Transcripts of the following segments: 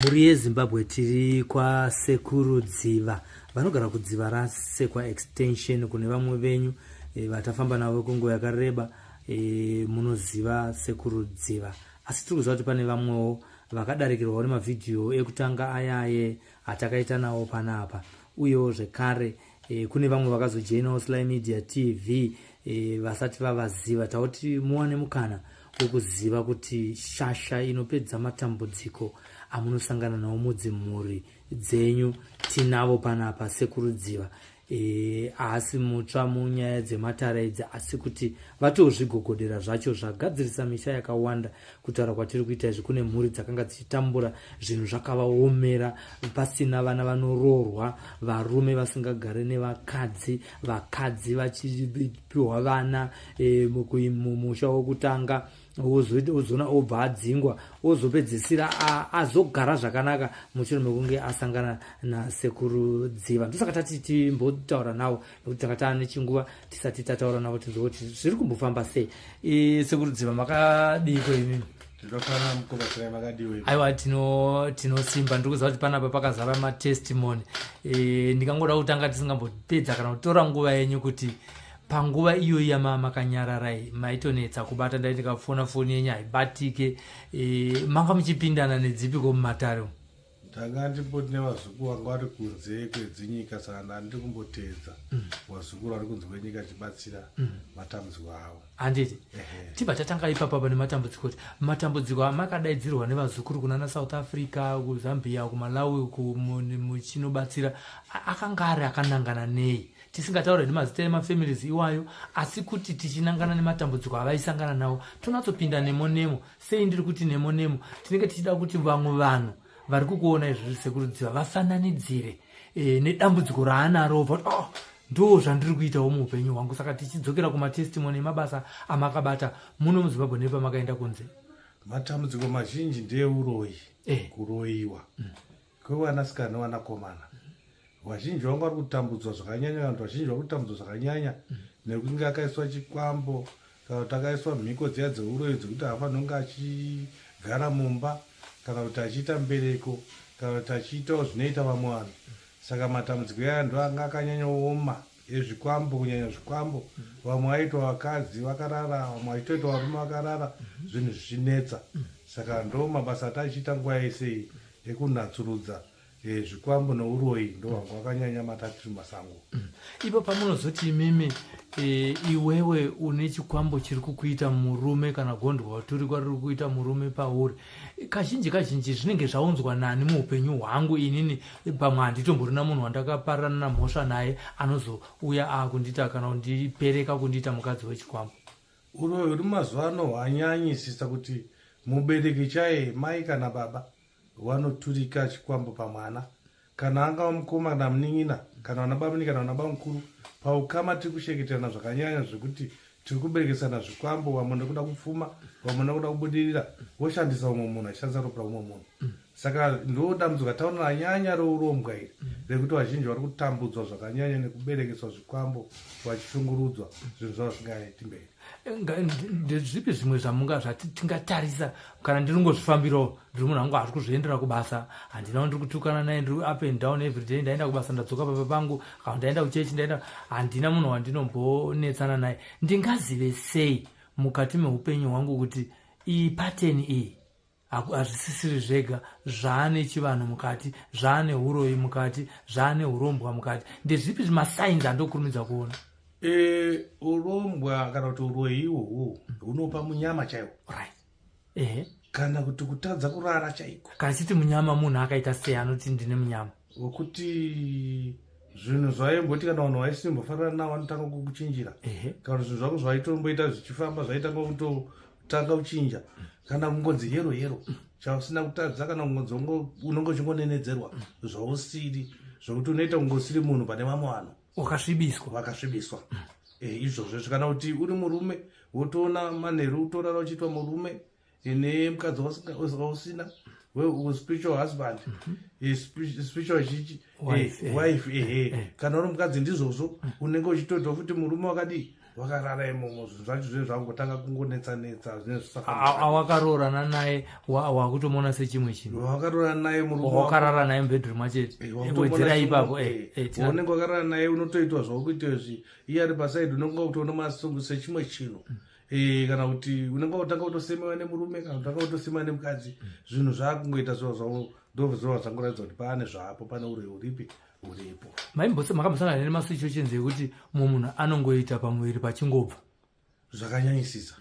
mhuri yezimbabwe tiri kwasekuru dziva vanogara kudziva rasekwa extension kune vamwe venyu e, vatafamba navo kwenguva yakareba e, munoziva sekuru dziva asi tiri kuziva kuti pane vamwewo vakadarikirwawo nemavhidhiyo ekutanga ayaye atakaita nawo panapa uyewo zvekare e, kune vamwe vakazojoinawo sly media tv e, eh, vasati vavaziva tauti muwane mukana wekuziva kuti shasha inopedza matambudziko amunosangana nawo mudzimhuri dzenyu tinavo panapa sekurudziva Eh, haasi mutsva munyaya dzematara idzi asi kuti vatozvigogodera zvacho zvagadzirisa misha yakawanda kutaura kwatiri kuita izvi kune mhuri dzakanga dzichitambura zvinhu zvakavaomera pasina vana vanoroorwa varume vasingagare nevakadzi vakadzi vachipiwa vana e, mumusha wokutanga ozoona obva adzingwa ozopedzisira azogara zvakanaka mushure mekunge asangana nasekuru dziva ndosaka tati timbotaura nawo nekuti tanga taa nechinguva tisati tataura navo tinzwa kuti zviri kumbofamba sei e, sekurudziva makadiiko imimi aiwa tinosimba ndiri kuziva kuti panapa pakazara matestimony e, ndingangoda kutanga tisingambopedza kana kutora nguva yenyu kuti panguva iyoyi yamaa makanyararai maitonetsa kubata ndai ndikafona foni yenyu haibatike e, manga muchipindana nedzipiko mumatare umu ndanga ndimboti nevazukuru vanga vari kunze kwedzinyika saka ndandiri kumboteedza mm. vazukuru vari kunze kwenyika achibatsira mm. matambudziko avo handiti tibva tatanga ipapa pane matambudziko ti matambudziko amakadaidzirwa nevazukuru kunana south africa kuzambia kumalawi muchinobatsira akanga ari akanangana nei tisingataure nemazita emafamilies iwayo asi kuti tichinangana nematambudziko avaisangana nawo tonatsopinda nemo nemo sei ndiri kuti nemo nemo tinenge tichida kuti vamwe vanhu vari kukuona izvozvi sekurudziva vafananidzire e, nedambudziko raanaro voti oh, ah, ndo zvandiri kuitawo muupenyu hwangu saka tichidzokera kumatestimony emabasa amakabata muno muzimbabwe nepamakaenda kunze matambudziko mazhinji ndeuroyi eh. kuroyiwa mm. kwevanasikana nevanakomana vazhinji vangu vari kutambudzwa zvakanyanya vanhu vazhinji vari kutambudzwa zvakanyanya nekunge akaiswa chikwambo kana kuti akaiswa mhiko dziya dzeuroyi dzekuti haafanira kunge achigara mumba kana kuti achiita mbereko kana kuti achiitawo zvinoita vamwe vanhu saka matambudziko aya ndo anga akanyanyooma ezvikwambo kunyanya zvikwambo vamwe vaitwa vakadzi vakarara vamwe vachitoitwa varume vakarara zvinhu zvichinetsa saka ndo mabasa ati achiita nguva yese iyi ekunatsurudza eh, zvikwambo neuroyi ndo vanga vakanyanya matatiri masango ipo pamunozoti imimi e, iwewe une chikwambo chiri kukuita murume kana gondwa waturikwa riri kuita murume pauri kazhinji kazhinji zvinenge zvaunzwa nani muupenyu hwangu inini pamwe handitomborina munhu wandakaparana namhosva naye anozouya akundita kana kundipereka kundiita mukadzi wechikwambo uroyi uri mazuva ano hwanyanyisisa kuti mubereki chaye mai kana baba vanoturika chikwambo pamwana kana angava mukoma kana munin'ina kana vana bamuni kana vana bamukuru paukama tiri kusheketerana zvakanyanya zvekuti tiri kuberekesana zvikwambo vamwe nekuda kupfuma vamwe nekuda kubudirira voshandisa umwe munhu achishandisa ropa umwe munhu saka ndo dambudzo kataona ranyanya rourombwa iri rekuti vazhinji vari kutambudzwa zvakanyanya nekuberekeswa zvikwambo vachishungurudzwa zvinhu zvavo zvingaiti mberi ndezvipi zvimwe zvamunga zvati tingatarisa kana ndiri ngozvifambirawo ndiri munhu angu hazvi kuzviendera kubasa handinawo ndiri kutukana naye ndiri up and down everyday ndaenda kubasa ndadzoka papa pangu kana ndaenda kuchechi ndaenda handina munhu wandinombonetsana naye ndingazive sei mukati meupenyu hwangu kuti iyi pateni iyi hazvisisiri zvega zvaane chivanhu mukati zvaane uroyi mukati zvaane urombwa mukati ndezvipi zvimasains andokurumidza kuona e, urombwa kana kuti uroyi iwowo hunopa munyama chaiwo right ehe kana kuti kutadza kurara chaiko kana chiti munyama munhu akaita sei anoti ndine munyama wekuti zvinhu zvaimboti kana vanhu vaisimbofanira navo vanotanga kukuchinjira kana zvinhu zvako zvaitomboita zvichifamba zvaitanga kuto tanga uchinja kana kungonzi yero yero chausina kutadza kana kungonzi unonge uchingonenedzerwa zvausiri zvokuti unoita kunge usiri munhu pane vamwe vanhu wakasvibiswa vakasvibiswa eh, izvozvo zvikana kuti uri murume wotoona manheru utorara uchiitwa murume ine mukadzi wausina spiritual husband mhm. eh, spiritual chichi wife eh, eh, ehe eh, kana uri mukadzi ndizvozvo mm. unenge uchitoitawo futi murume wakadii wakarara imomo zvinhu zvacho zvinenge zvakungotanga kungonetsanetsa zvinezvaawakaroorana naye wakutomuona sechimwe chinhu wakaroorana naye murumewakarara naye mubedroom achetiwedzera ipapo unenge wakarara naye unotoitwa zvakukuitwa izvi iye ari pasaidi unenge wakutoona masongo sechimwe chinhu mm. Eh, kana kuti unenge utanga kutosemewa nemurume kana utanga kutosemewa nemukadzi zvinhu zvakungoita zvo zvavo ndozvova zvangoratidza kuti paane zvapo pane uri uripi uripo maimbose makambosana here nemasuchochenzi yekuti mumwe munhu anongoita pamuviri pachingobva zvakanyanyisisa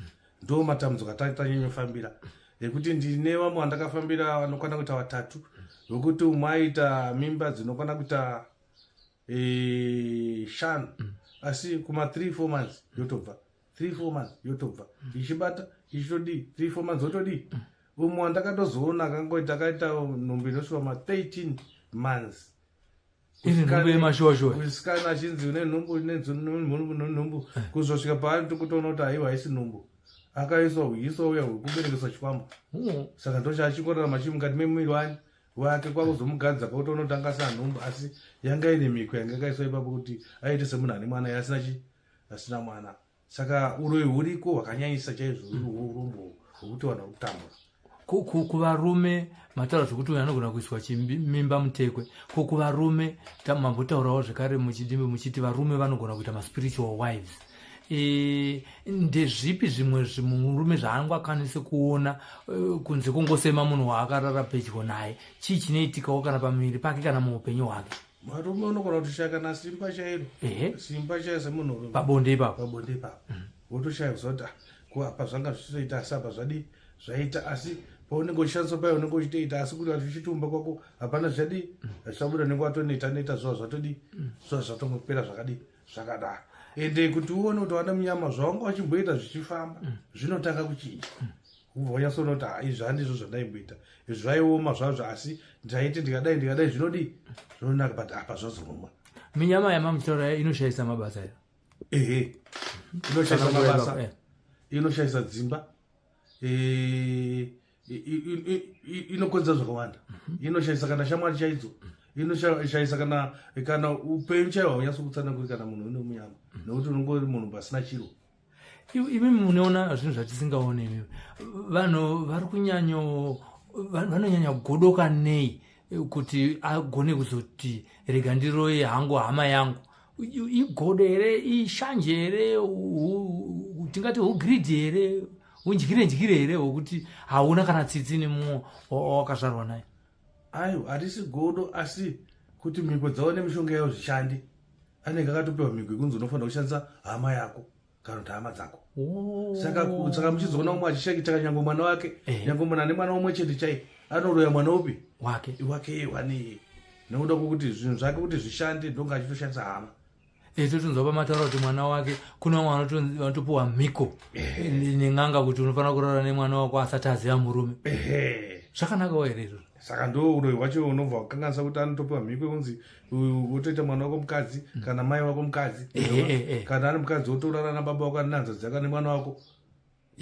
ndo matambudziko atatanyanyofambira nekuti ndine vamwe vandakafambira vanokwana kuita vatatu vekuti umwe aita mimba dzinokwana kuita eh, shanu mm. asi kuma three four months yotobva three four months yotobva ichibata ichitodii three four months wotodii mm. umwe wandakatozoona akangoita akaita nhumbi inosvika ma 13 months kusikana achinzi une nhumbu unenhumbu eh. kuzosvika paari tikutoona kuti aiwa haisi nhumbu akaiswa uyiso uya hwekuberekeswa chikwambo hmm. saka ndochaachikorera machii mukati memuviri wani wake kwakuzomugadza kwakuti unotanga sa nhumbu asi yanga ine mhiko yanga yakaiswa ipapo kuti aite semunhu ane mwana yasina chi asina mwana saka uroyi huriko hwakanyanyisa chaizvo urombo hwekuti vanhu vari kutambura kuvarume mataura zvekuti uyo anogona kuiswa chimimba mutekwe ko kuvarume mambotaurawo zvekare muchidimbi muchiti varume vanogona kuita maspiritual wives e, ndezvipi zvimwe zvimurume zvaangu akwanise kuona e, kunze kungosema munhu waakarara pedyo naye chii chinoitikawo kana pamuviri pake kana muupenyu hwake varume unogona kutoshaya kana simba chairo simba chairo semunhurume pabonde ipapo pabonde ipapo mm. wotoshaya kuziva kuti ah, kuapa zvanga zvichitoita asi apa zvadii zvaita asi paunenge uchishandiswa paye unenge uchitoita asi kuti achichitumba kwako hapana zvadi zvisabuda unenge watoneta neta zuva zvatodi zuva zvatongopera zvakadii zvakadaro ende kuti uone kuti wana munyama zvaunga wachimboita zvichifamba mm. zvinotanga kuchinja mm. ubva wanyasoona kuti haa izvi handizvo zvandaimboita izvi zvaioma zvazvo asi ndaiti ndikadai ndikadai zvinodii zvinonaka but apa zvazoruma minyama yamamutaura inoshayisa mabasa iyo ehe inoshayisa mabasa eh. inoshayisa dzimba eh, inokonzera zvakawanda mhm. inoshaisa kana shamwari chaidzo inoshaisa kana kana upenyu chaiwo haunyatsi kutsana kuri kana munhu une munyama mhm. nekuti unonge uri munhu pasina chiro imi munoona zvinhu zvatisingaone imi vanhu vari kunyanyo vanonyanya kugodoka nei eh, kuti agone kuzoti rega ndiroye hangu hama yangu igodo here ishanje here tingati ugridhi here undyire ndyire here hwekuti hauna kana tsitsi nemumwe wakazvarwa naye ayo hatisi godo asi kuti mhiko dzavo nemishonga yavo zvishandi anenge akatopiwa mhiko yekunzi unofanira kushandisa hama yako kana kuti hama dzako oh. saka muchizoona umwe achishakitaka nyange mwana wake eh. nyange mwana nemwana umwe chete chai anoroya mwana upi wake wake wane nekuda kwokuti zvinhu zvake kuti zvishande ndonga achitoshandisa hama eh, totonzwa pamataura kuti mwana wake kuna vamwe vanotopiwa mhiko eh. nen'anga kuti unofanira kurara nemwana wako asati aziva murume zvakanakawo here izvozvo saka ndo uroyi wacho unobva wakanganisa kuti anotopiwa mhiko yekunzi wotoita mwana wako mukadzi mm. kana mai wako mukadzi eh, eh, eh, kana ari mukadzi wotorara nababa wako aninanza dzaka nemwana wako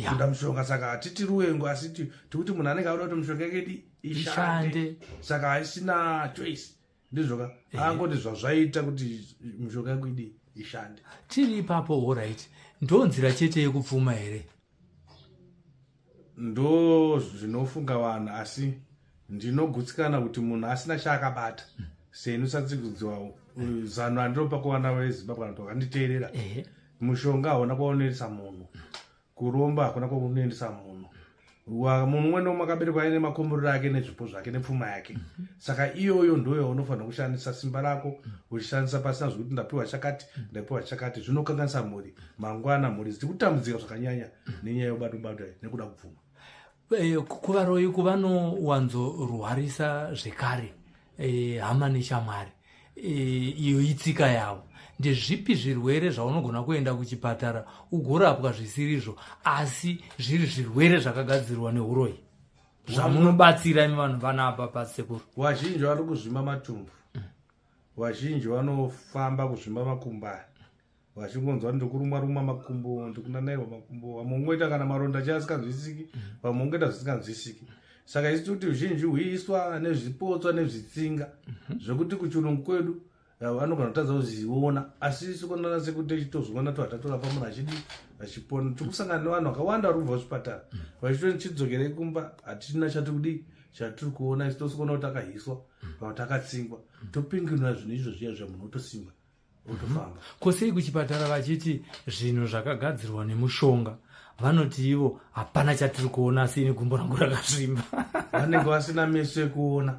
kuda mushonga saka hatiti ruwengo asi tikuti munhu anenge auda kuti mushonga yekedi ishande saka haisina choice ndizvoka angoti zvazvaita kuti mushonga yekuidi ishande tiri ipapo orit ndonzira chete yekupfuma here ndo zvinofunga vanhu asi ndinogutsikana kuti munhu asina chaakabata seni usatsikudziwa zano andinopa kuvana vezimbabwe vanoti vakanditeerera mushonga hauna kwaunoendesa munhu kuromba hakuna kwaunoendesa munhu munhu umwe nomwe akaberekwa aine makomborero ake nezvipo zvake nepfuma yake mhm. saka iyoyo ndoyo unofanira kushandisa simba rako uchishandisa pasina zvekuti ndapiwa chakati ndapiwa chakati zvinokanganisa mhuri mhm. mangwana mhuri dziri kutambudzika zvakanyanya nenyaya yobato bato iyi nekuda kubvuma Eh, ku- kuvaroyi kuvanowanzorwarisa zvekare eh, hama neshamwari Eh, iyo itsika yavo ndezvipi zvirwere zvaunogona kuenda kuchipatara ugorapwa zvisirizvo asi zviri zvirwere zvakagadzirwa neuroyi zvamunobatsira imi vanhu vana apa pasekuru vazhinji vari kuzvimba matumbu vazhinji vanofamba kuzvimba makumbani vachingonzwa ndiri kurumwa rumwa makumbo ndikunanairwa makumbo vamwe ungoita kana maronda chaya asikanzwisiki vamwe ungoita zvisikanzwisiki saka isu tikuti zhinji huiswa nezvipotswa nezvitsinga mhm. zvekuti kuchirungu kwedu eh, vanogona kutadza kuziona asi isu konana sekuti tichitozviona to hatatorapa munhu achidi achipona tiri kusangana nevanhu vakawanda vari kubva zvipatara mhm. vachito tichidzokerei kumba hatichina chatikudii chatiri kuona isu tosikona kuti takahiswa mhm. kana kuti takatsingwa topinginwa zvinhu izvo zviya zvamunhu otosimba votofamba ko sei kuchipatara vachiti zvinhu zvakagadzirwa nemushonga vanoti ivo hapana chatiri kuona asi ini gumbo rangu rakasvimba vanenge vasina meso ekuona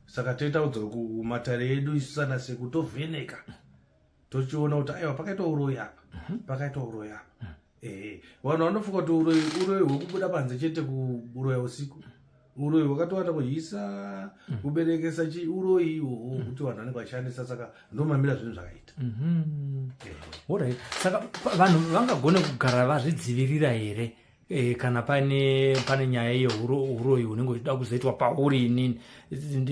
saka toita udzoro kumatare edu isu sana seku tovheneka tochiona kuti aiwa pakaita uroyi apa pakaita uroyi apa Eh, vanhu vanofunga kuti uroyi uroyi hwekubuda panze chete kuroya usiku uroyi hwakatowanda kuhyisa mm. kuberekesa chi uroyi iwowo mm. kuti vanhu vanenge vachishandisa saka ndomamira zvinhu zvakaita mm-hmm. eh. orit saka vanhu vangagone kugara vazvidzivirira here eh, kana pane pane nyaya yeuroyi unenge uchida kuzoitwa pauri inini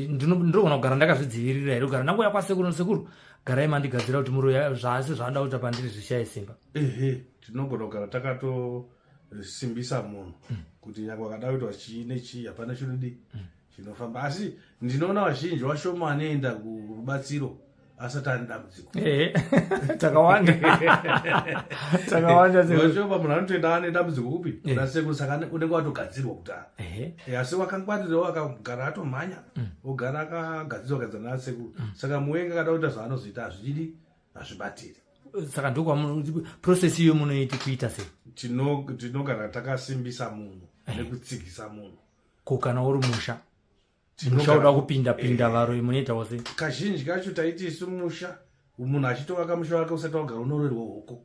ndinogona kugara ndakazvidzivirira here kugara ndangouya kwasekuru sekuru garai mandigadzira kuti muroyi zvaasi zvaada kuita pandiri zvishaye simba ehe tinogona kugara takatosimbisa munhu mm. kuti nyaka wakada kuitwa chii nechii hapana chinodii mm. chinofamba asi ndinoona vazhinji vashoma anoenda kurubatsiro asati ane dambudziko takawanda takawanda vashoma munhu anotoenda ane dambudziko kupi kuna sekuru saka unenge watogadzirwa kudhara asi wakangwarirawo akagara atomhanya mm. ogara akagadzirwa gadzana nasekuru saka muwenga akada kuita zvaanozoita hazvidi hazvibatiri saka ndokwaprocess iyo munoiti kuita sei tinogara takasimbisa munhu eh. nekutsigisa munhu ko kana uri musha musha uda kupinda pinda eh. varo munoitawo sei kazhinji kacho taiti isu musha munhu achitovaka musha wake usati wagara unoroerwa hoko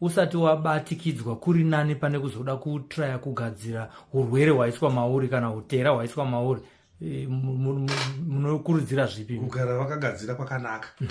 usati wabatikidzwa kuri nani pane kuzoda kutraya kugadzira urwere hwaiswa mauri kana utera hwaiswa mauri e, munokurudzira zvipi kugara vakagadzira kwakanaka mm.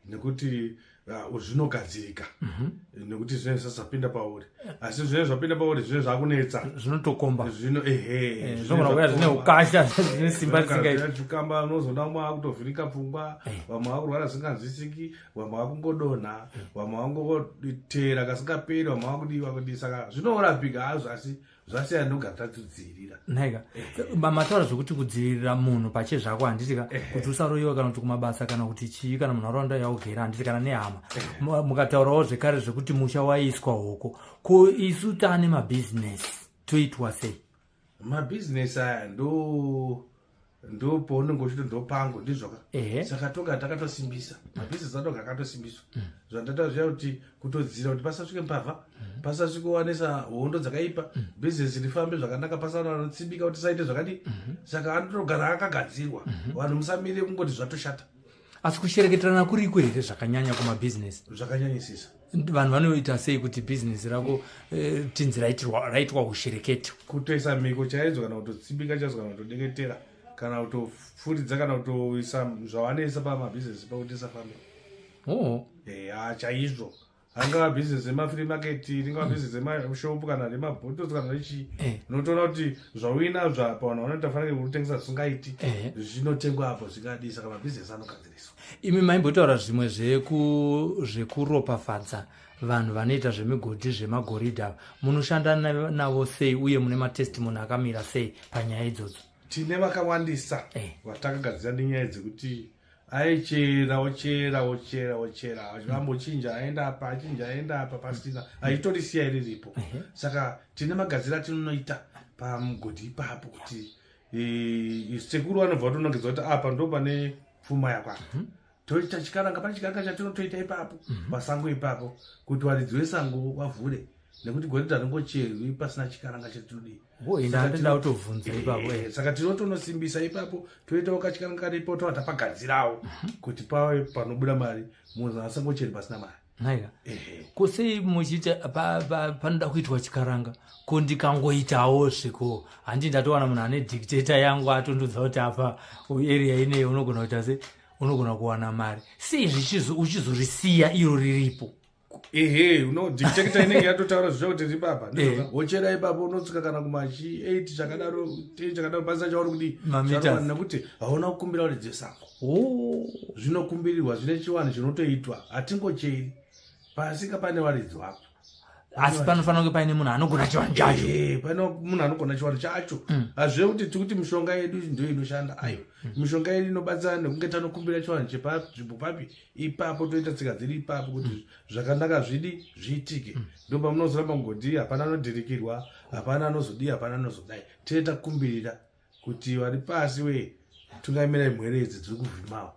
nekuti uh, zvinogadzirika mhm. nekuti zvinenge zvisati zvapinda pauri asi zvinenge zvapinda pauri zvinenge zvakunetsa zvinotokomba eh, zvinouya zvine ukasha zvine simba zisingaitukamba unozoda mwa akutovhirika pfungwa eh. vamwe vakurwara zvisinganzwisiki vamwe vakungodonha vamwe vangoteera kasingaperi vamwe vakudii vakudii saka zvinorapika hazvo asi zvasiya ndogara tatidzivirira naika mataura zvekuti kudzivirira munhu pache zvako handitika kuti usaroyiwa kana kuti kumabasa kana kuti chii kana munharaunda yaugera handiti kana nehama mukataurawo zvekare zvekuti musha waiswa hoko ko isu taane mabhizinesi toitwa sei mabhizinesi aya ndo ndo paunenge uchito ndopango ndizvoka saka toga takatosimbisa mabhizinesi adoga akatosimbiswa mm. zvandata zviya kuti kutodzira kuti pasasvike mbavha mm. pasasvike wanisa hondo dzakaipa mm. bhizinesi rifambe zvakanaka pasana vanotsibika kuti saite zvakadii mm-hmm. saka anotogara akagadzirwa mm-hmm. vanhu musamire kungoti zvatoshata asi kushereketerana kuriko here zvakanyanya kumabhizinesi zvakanyanyisisa vanhu vanoita sei kuti bhizinesi rako eh, tinzi raitwa ushereketo kutoisa mhiko chaidzo kana kutotsibika chaidzo kana kutodeketera kana kutofuridza kana kutoisa zvavanoisa pamabhizinesi pakuti isafambe oh. eh, ah, chaizvo angava business remafree market ringava mm. business remashop kana remabottles kana rechii eh. unotoona kuti zvauinazvo apa vanhu vanoita fanira kutengesa zvisingaiti eh. zvinotengwa apo zvingadii saka mabusiness anogadziriswa imi maimbotaura zvimwe zvekuropafadza vanhu vanoita zvemigodhi zvemagoridha ava munoshanda navo sei uye mune matestimony akamira sei panyaya idzodzo tine vakawandisa eh. vatakagadzira nenyaya dzekuti hey. aichera ochera ochera ochera vambochinja aenda apa achinja aenda apa pasina aitorisiya iri ripo saka tine magadzira tinonoita pamugodhi ipapo kuti e, sekuru vanobva vatonongedza kuti apa ndo pane pfuma yakwapa mhm. toita chikaranga pane chikaranga chatinotoita ipapo mhm. pasango ipapo kuti varidzi vesango vavhure nekuti goridha ringocherwi pasina chikaranga chatinodii ndandoda kutovhunza ipapo eh, saka tinotonosimbisa ipapo toitawo kachikanwa karipo tova tapagadzirawo mhm. kuti pave panobuda mari munhu asangocheri pasina mari naiva ko sei muchiita panoda kuitwa chikaranga ko ndikangoitawo zviko handi ndatowana munhu ane dictator yangu atondudza kuti apa area inei unogona kuita se unogona kuwana mari sei zvichizo uchizorisiya iro riripo ehe uno dictator inenge yatotaura zvicha kuti ribaba wochera ipapa unotsika kana kumachi 8 chakadaro 10 chakadaro basa chauri kuti nekuti hauna kukumbira kuti dzesango oh. zvinokumbirirwa zvine chivanhu chinotoitwa hatingocheri pasika pane varidzi vapo asi panofanira kunge paine munhu anogona chivanhu chacho pane munhu anogona chivanhu chacho mm. hazvive kuti tikuti mishonga yedu ndo inoshanda aiwa mm. mishonga yedu inobatsira nekunge tanokumbira chivanhu chepanzvimbo papi ipapo toita tsika dziri ipapo kuti mm. zvakanaka zvidi zviitike mm. ndo pamunozoramba kungodii hapana anodhirikirwa hapana anozodii hapana anozodai tee takumbirira kuti vari pasi we tungamirai mhere idzi dziri kuvhimawo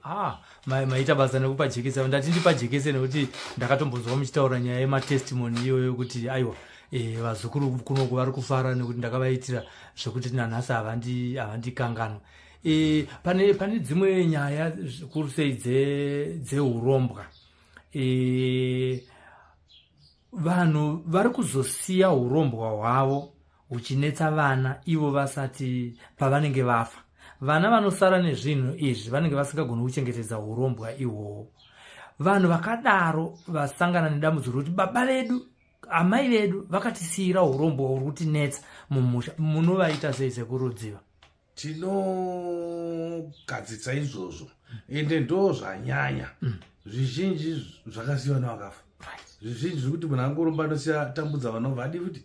ah, maita basa nekupa jekese ndati ndipa jekese nekuti ndakatombonzwa muchitaura nyaya yematestimoni iyoyo kuti aiwa eh, vazukuru kunoku vari kufara nekuti ndakavaitira zvekuti nanhasi havandikanganwa havandi E, pane, pane dzimwe nyaya zvikuru sei dzeurombwa dze e, vanhu vari kuzosiya urombwa hwavo huchinetsa vana ivo vasati pavanenge vafa vana vanosara nezvinhu izvi vanenge vasingagoni kuchengetedza urombwa ihwohwo vanhu vakadaro vasangana nedambudziko rekuti baba vedu amai vedu vakatisiira urombwa huri kutinetsa mumusha munovaita sei sekurudziva tinogadzitsa izvozvo ende ndo zvanyanya mm. zvizhinji zvakasiya vana vakafa zvizhinji zvekuti munhu angoromba anosiya tambudza vana vadi futi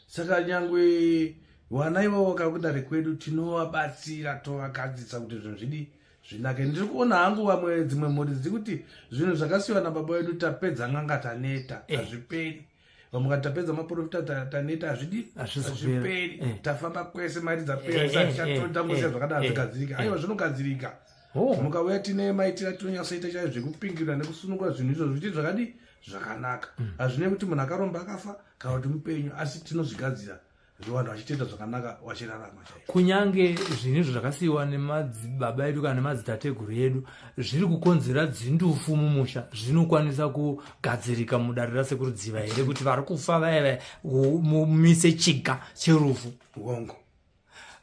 saka nyangwe vana ivavo vakakudare kwedu tinovabatsira tovagadzitsa kuti zvinhu zvidi zvinake ndiri kuona hangu vamwe dzimwe mhuri dziri kuti zvinhu zvakasiyiwa nababa vedu tapedza n'anga taneta eh. hazviperi eh. vamwe vati tapedza maprofita taneta hazvidi hazviperi eh. tafamba kwese mari dzapera eh, zatichatangoziva eh, zvakadaro zvikadzirika aiwa zvinogadzirika oh. mukauya tine maitira tinonyasoita chaizvo zvekupingirira nekusunungura zvinhu izvo zvichiti zvakadi zvakanaka hmm. hazvinei kuti munhu akaromba akafa kana kuti mupenyu asi tinozvigadzira vanhu vachitenda zvakanaka vachirarama chai kunyange zvinhu izvo zvakasiyiwa nemadzibaba edu kana nemadzitateguru edu zviri kukonzera dzindufu mumusha zvinokwanisa kugadzirika mudare rasekuru dziva here kuti vari kufa vaya vaya mumise chiga cherufu hongo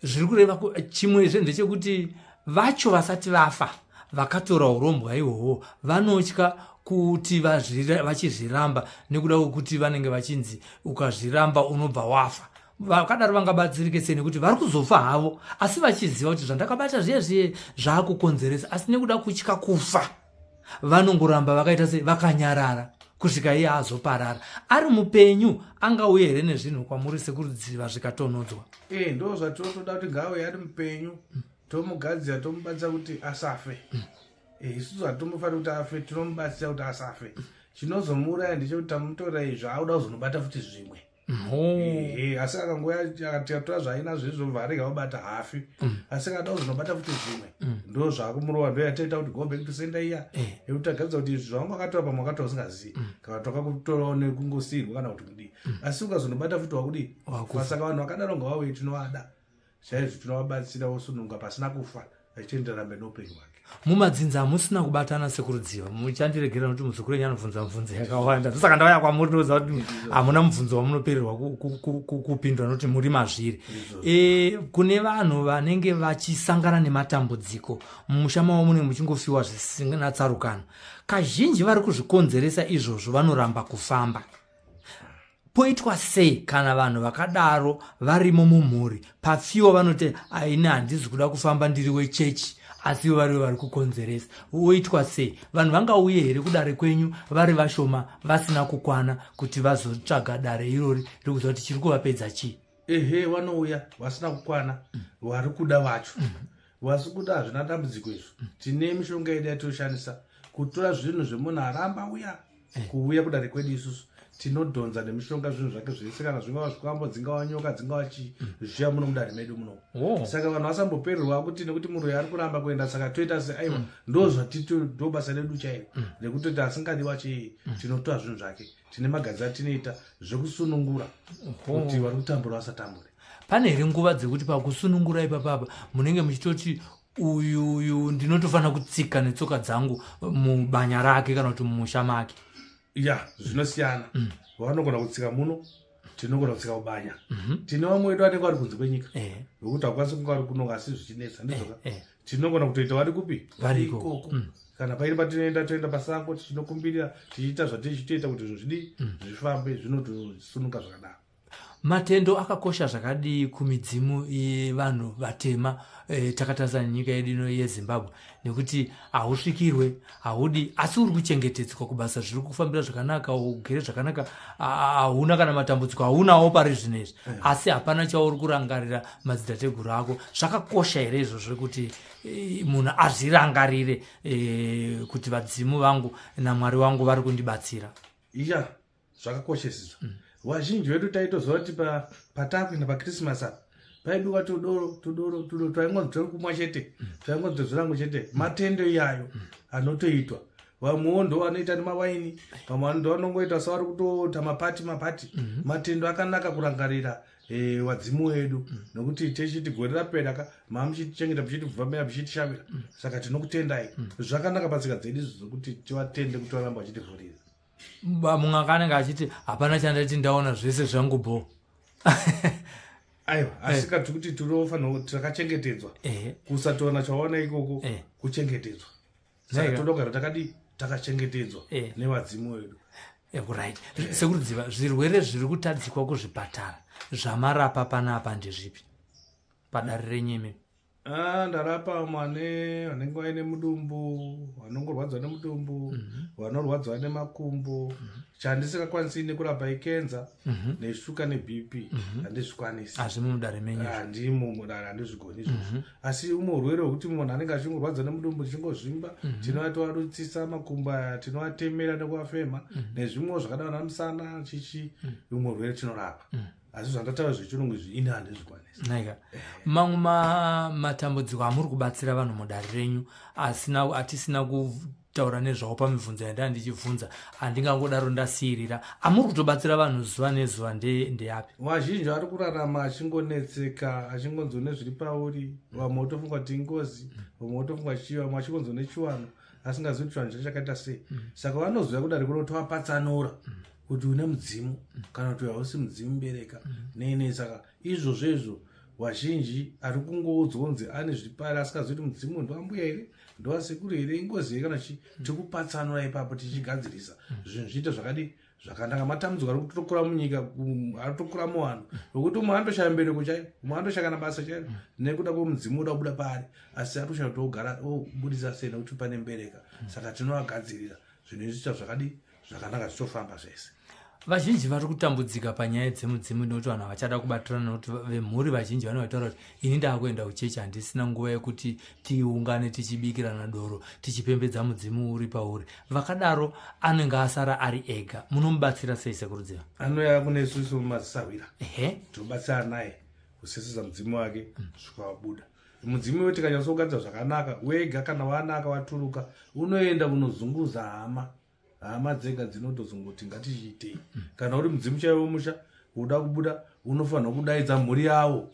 zviri kureva chimwezve ndechekuti vacho vasati vafa vakatora urombwa ihwohwo vanotya kuti vachizviramba nekuda kwekuti vanenge vachinzi ukazviramba unobva wafa vakadaro vangabatsirike sei nekuti vari kuzofa havo asi vachiziva kuti zvandakabata zviye zviye zvaakukonzeresa asi nekuda kutya kufa vanongoramba vakaita se vakanyarara kusvika iye azoparara ari mupenyu angauye here nezvinhu kwamuri sekurudziva zvikatonhodzwa e ndo zvatinotoda kuti ngaauye ari mupenyu tomugadzira tomubatsira kuti asafe mm. Eh, isusu hatombofanira kuti afe tinomubatsira kuti asafe chinozomuuraya ndechekuti tamutorai zvaauda kuzonobata futi zvimwe asi akangouya akatora zvaina zvezvo varega vabata hafi mm. asi akada kuzonobata futi zvimwe mm. ndo zvakumurova ndo yataita kuti go back to senda iya eh. yekuti agaridza kuti zvaunga akatora pamwe akatora usingazivi mm. kana toka kutorawo nekungosirwa kana kuti kudii asi ukazonobata futi wakudii saka vanhu vakadaro ngavauye tinovada chaizvo tinovabatsira vosununga pasina kufa achiendera rambe noupenyu hwake mumadzinza hamusina kubatana sekurudziva muchandiregerera nokuti muzukuru enyu anobvunza mubvunzo yakawanda ndosaka ndauya kwamuri ndinoziva kuti hamuna mubvunzo wamunopererwa kupindura nokuti muri mazviri e, kune vanhu vanenge vachisangana nematambudziko mumusha mavo munenge muchingofiwa zvisina tsarukano kazhinji vari kuzvikonzeresa izvozvo vanoramba kufamba poitwa sei kana vanhu vakadaro varimo mumhuri pafiwo vanoti aini handizi kuda kufamba ndiri wechechi asi ivo varivo vari kukonzeresa woitwa sei vanhu vangauye here kudare kwenyu vari vashoma vasina kukwana kuti vazotsvaga dare irori riri kuziva kuti chiri kuvapedza chii ehe vanouya vasina kukwana vari kuda vacho vasi kuda hazvina dambudziko izvo tine mishonga yedu yatinoshandisa kutora zvinhu zvemunhu aramba uya eh. kuuya kudare kwedu isusu tinodhonza nemishonga zvinhu zvake zvese kana zvingava zvikwambo dzingava nyoka dzingava chii mm. zvichiya muno mudare medu muno oh. saka vanhu vasambopererwa kuti nekuti muroyi ari kuramba kuenda saka toita se aiwa mm. ndo zvatito ndo basa redu chairo mm. nekuti kuti asingadiwa chii tinotora zvinhu zvake tine magadzi atinoita zvekusunungura kuti vari kutambura vasatambure pane here nguva dzekuti pakusunungura ipapapa munenge muchitoti uyu uyu ndinotofanira kutsika netsoka dzangu mubanya rake kana kuti mumusha make ya zvinosiyana mm. vanogona kutsika muno tinogona kutsika kubanya mhm. tine vamwe wedu vanenge vari kunze kwenyika eh. vekuti hakwanisi kunge vari kunoka asi zvichinetsa ndizoka eh, eh. tinogona kutoita vari kupi vari ikoko mm. kana paine patinoenda toenda pasango tichinokumbirira tichiita zvatiri chitoita kuti izvo zvidii mm. zvifambe zvinotosunuka zvakadaro matendo akakosha zvakadii kumidzimu yevanhu vatema e, takatarisa nenyika yedu ino yezimbabwe nekuti hausvikirwe haudi asi uri kuchengetedzwa kubasa zviri kufambira zvakanaka ugere zvakanaka hauna kana matambudziko haunawo pari zvino izvi eh. asi hapana chauri kurangarira madzitateguru ako zvakakosha here izvo zvekuti e, munhu azvirangarire e, kuti vadzimu vangu namwari wangu vari kundibatsira ya yeah. zvakakoshesizvo mm. vazhinji vedu taitoziva kuti patakuenda pachristmas apa paibiwa tudoro tudoro tudoro twaingonzi turi kumwa chete mm. twaingonzi tozvirango chete mm. matendo iyayo mm. anotoitwa vamwewo ndo vanoita nemawaini vamwe vano ndo vanongoita savari kutoita mapati mapati mm-hmm. matendo akanaka kurangarira eh, vadzimu wedu nokuti techiti gore rapera ka maa muchitichengeta muchitivhomera muchitishavira saka tinokutendai zvakanaka patsika dzedu izvo zvokuti tivatende kuti varamba vachitivhurira mumwe akanenge achiti hapana chandati ndaona zvese zvangu bho aiwa eh. asi kati kuti tinofanira takachengetedzwa eh. kusatoona chaona ikoko eh. kuchengetedzwa saka todogara takadii takachengetedzwa nevadzimu wedu right sekurudziva zvirwere zviri kutadzikwa kuzvipatara zvamarapa panapa ndezvipi padare renyimi Ah, ndarapa vamwe vane vanenge vaine mudumbu vanongorwadziwa nemudumbu vanorwadziwa nemakumbo chandisingakwanisi nekurapa ikenza neshuka nebp handizvikwanisi hazvimi mudare menyu izvo. handimo mudare handizvigoni izvozvo asi umwe urwere hwekuti munhu anenge achingorwadza nemudumbu tichingozvimba tinoatoarutsisa makumbo aya tinoatemera nekuafema nezvimwewo zvakadana namusana chichi umwe urwere tinorapa asi zvandataura zvechirungu izvi ini handizvikwanisi naika mamwe matambudziko amuri kubatsira vanhu mudare renyu asina atisina kutaura nezvawo pamibvunzo yandaa ndichibvunza handingangodaro ndasiirira amuri kutobatsira vanhu zuva nezuva ndeyapi vazhinji ari kurarama achingonetseka achingonzwa nezviri pauri vamwe votofunga kuti ingozi vamwe votofunga chii vamwe achingonzwa nechiwano asingazivi kuti chivanhu chakaita sei mm. saka vanoziva kudari kuda kuti vapatsanura mm. kuti une mudzimu mm. kana kuti hausi mudzimu bereka nei nei saka izvozvo izvo vazhinji ari kungoudzwa kunzi ane zvipari asingazivi kuti mudzimu ndoambuya here ndoasekuru here ingozi here kana chi tikupatsanura ipapo tichigadzirisa zvinhu zviite zvakadii zvakanaka matambudziko ari kutokura munyika ari kutokura muvanhu nokuti umwe anotoshaya mbereko chaiyo umwe anotoshaya kana basa chaiyo nekuda kwemudzimu woda kubuda paari asi ari kushaya kuti ogara obudisa sei nekuti pane mbereka saka tinovagadzirira zvinhu izviita zvakadii zvakanaka zvichofamba zvese vazhinji vari kutambudzika panyaya dzemudzimu nekuti vanhu havachada kubatirana nekuti vemhuri vazhinji vanovaitaura kuti ini ndaakuenda kuchechi handisina nguva yekuti tiungane tichibikirana doro tichipembedza mudzimu uri pauri vakadaro anenge asara ari ega munomubatsira sei sekurudziva anouya kune isusu mazisahwira ehe tinobatsira naye kuseseza mudzimu wake mm. svika wabuda mudzimu iwe tikanyatsougadzira zvakanaka wega kana waanaka waturuka unoenda unozunguza hama hama dzega dzinotozongoti ngatichiitei kana uri mudzimu chaiwo womusha uda kubuda unofanirwa kudaidza mhuri yawo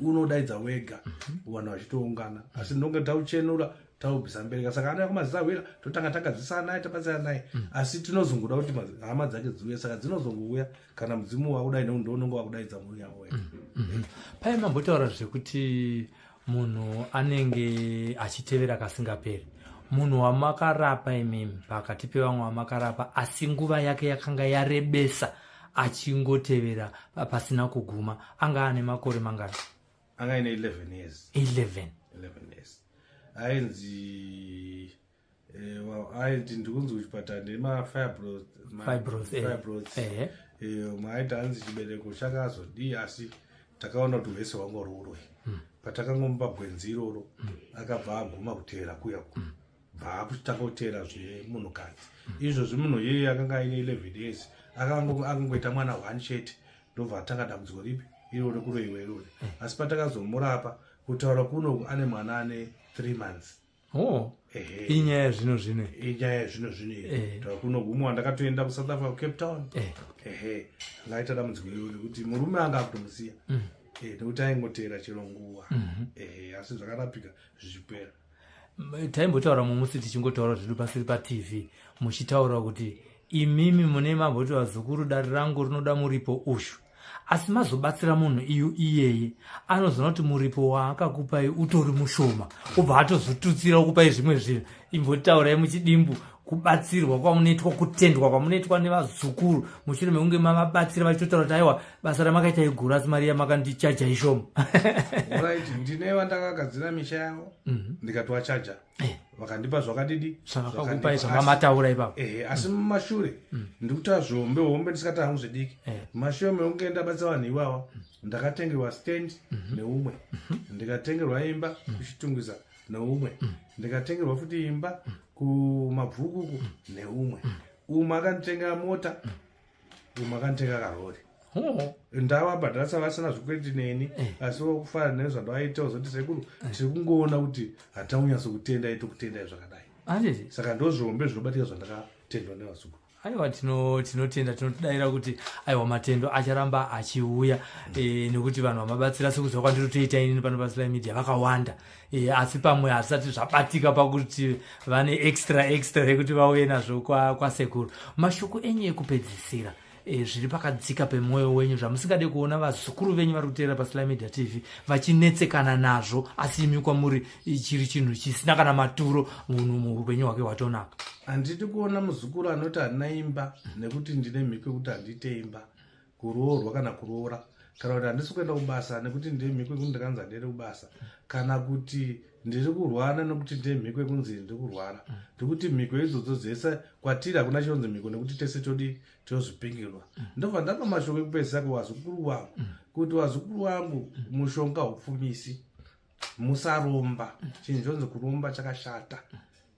unodaidza wega vanhu vachitoungana asi ndonge tauchenura taubvisa mbereka saka ana yakumazizahwira totanga tagadzisa naye tabatsira naye asi tinozongoda kuti hama dzake dziuya saka dzinozongouya kana mudzimu wakudai neundounonge wakudaidza mhuri yawo wega mm-hmm. paye mambotaura zvekuti munhu anenge achitevera kasingaperi munhu wamakarapa imimi pakati pevamwe vamakarapa asi nguva yake yakanga yarebesa achingotevera pasina kuguma anga ane makore mangani anga ine 11 years 11 11 years ainzi Eh, well, I didn't go to Chipatara, they my fibros. my Fibros, eh. Fibros. Ehe. Eh, maita hanzi chibereko chakazodii asi takaona kuti hwese hwangu rurwe patakangomupa gwenzi iroro akabva aguma kuteera kuya ku bva akutanga kuteera zvemunhukadzi izvozvi munhu iyeye akanga aine 11 years akango- akangoita mwana one chete ndobva atanga dambudziko ripi iro rekuroiwa irori asi patakazomurapa kutaura kuno ane mwana ane 3 months oh inyaya yazvino zvino inyaya yazvino zvino eh. takunogumwa ndakatoenda kusouth africa kucape town eh. ehe ngaita dambudziko iroro rekuti murume anga akutomusiya mm. eh, nekuti aingoteera chero nguva mhm. ehe asi zvakarapika zvichipera taimbotaura mumusi tichingotaura zvedu pasiri patv muchitaura kuti imimi mune mamboti vazukuru dare rangu rinoda muripo ushu asi mazobatsira munhu iyu iyeye anozoona kuti muripo waakakupai utori mushoma obva atozotutsira okupai zvimwe zvinhu imbotaurai muchidimbu kubatsirwa kwamunoitwa kutendwa kwamunoitwa nevazukuru mushure mekunge mavabatsira vachitotaura kuti aiwa basa ramakaita iguru asi mari yamakandichaja ishoma ndine vandakagadzira misha yavo mhm. ndikatovachaja mm -hmm. eh. vakandipa zvakadidi zvakakupai zvamamataura ipapo ehe asi mm. mumashure mm. ndikuta zvombe hombe ndisikataa hangu zvidiki eh. mumashure mekunge ndabatsa vanhu iwawa mm. ndakatengerwa stand mm-hmm. neumwe mm-hmm. ndikatengerwa imba kuchitungwiza neumwe ndikatengerwa futi imba kumabvukuku neumwe umwe akanditenga mota makanditeka karori ndava bhadhasa vasina zvikweti neni eh. asi vakufara nei zvandavaita uzoti sekuru eh. tiri kungoona kuti hataunyaso kutenda ito kutendai zvakadai saka ndozvihombe zvinobatika zvandakatendwa nevazukuru aiwa tinotenda tinotidaira kuti aiwa matendo acharamba achiuya eh, nekuti vanhu vamabatsira sekuziva kwandiri toita inini pano pasly media vakawanda e, asi pamwe hazvisati zvabatika pakuti vane extra extra yekuti vauye nazvo kwasekuru kwa mashoko enyu ekupedzisira e, zviri pakadzika pemwoyo wenyu zvamusingade kuona vazukuru venyu vari kuteera pasly media tv vachinetsekana nazvo asi imi kwamuri chiri chinhu chisina kana maturo munhu muupenyu hwake hwatonaka handidi kuona muzukuru anoti handina imba nekuti ndine mhiko yekuti handite imba kuroorwa kana kuroora kana kuti handisi kuenda kubasa nekuti ndemhiko yekuti ndakanzi handiende kubasa kana kuti ndiri kurwara nekuti ndemhiko yekunzi ndiri kurwara ndikuti mhiko idzodzo dzese kwatiri hakuna chionzi mhiko nekuti tese todi tozvipingirwa ndobva ndapa mashoko ekupedzisa kuwazukuru wangu kuti wazukuru wangu mushonga hupfumisi musaromba chinhu chonzi kuromba chakashata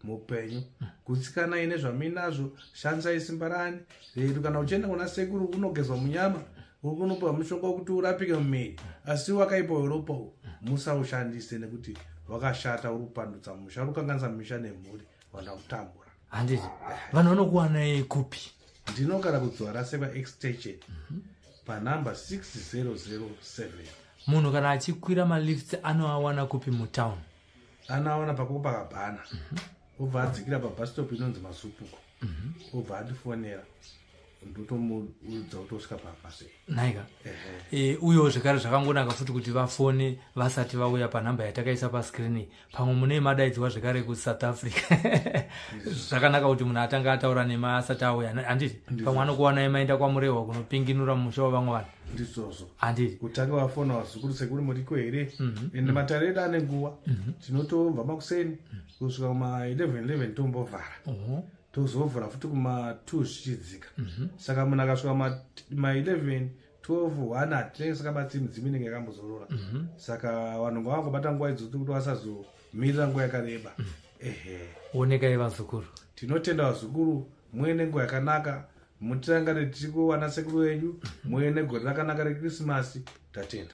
muupenyu gutsikanai nezvamuinazvo shandisai simba rani redu kana uchienda kuna sekuru unogezwa munyama uri kunopiwa mushonga wekuti urapike mumiri asi wakaipa weropa u musaushandise nekuti wakashata uri kupandutsa musha uri kukanganisa misha nemhuri vana kutambura handiti vanhu vanokuwanai kupi ndinogara kudzwara sevaextension mhm. panumber 6007 munhu kana achikwira malifts anoawana kupi mutown anoawana pako pakabhana mhm. obva adzikira pabastop inonzi masupuko mhm. obva andifonera ndotomuudza kuti osvika pamba sei naika e, uyewo zvekare zvakangonaka futi kuti vafone vasati vauya panhamba yatakaisa pascreen pamwe mune madaidzwa zvekare kusouth africa zvakanaka kuti munhu atanga ataura nema asati auya handiti pamwe anokuwanai maenda kwamurehwa kunopinginura mumusha wavamwe vanhu ndizvozvo handiti kutanga vafona vazukuru sekuri muriko here mhm. ende mhm. matare edu ane nguva mhm. tinotobva makuseni kusvika kuma 11 11 tombovhara tozovhura futi kuma2 zvichidzika mhm. saka munhu akasvika ma11 12 one hatinenge sakabatsiri midzimu inenge yakambozorora mhm. saka vanhu ngavangobata nguva idzoto kuti vasazomirira nguva yakareba mhm. ehe onekai vazukuru tinotenda vazukuru muye nenguva yakanaka mutirangare tichikuwana sekuru venyu muye negore rakanaka rekrisimasi tatenda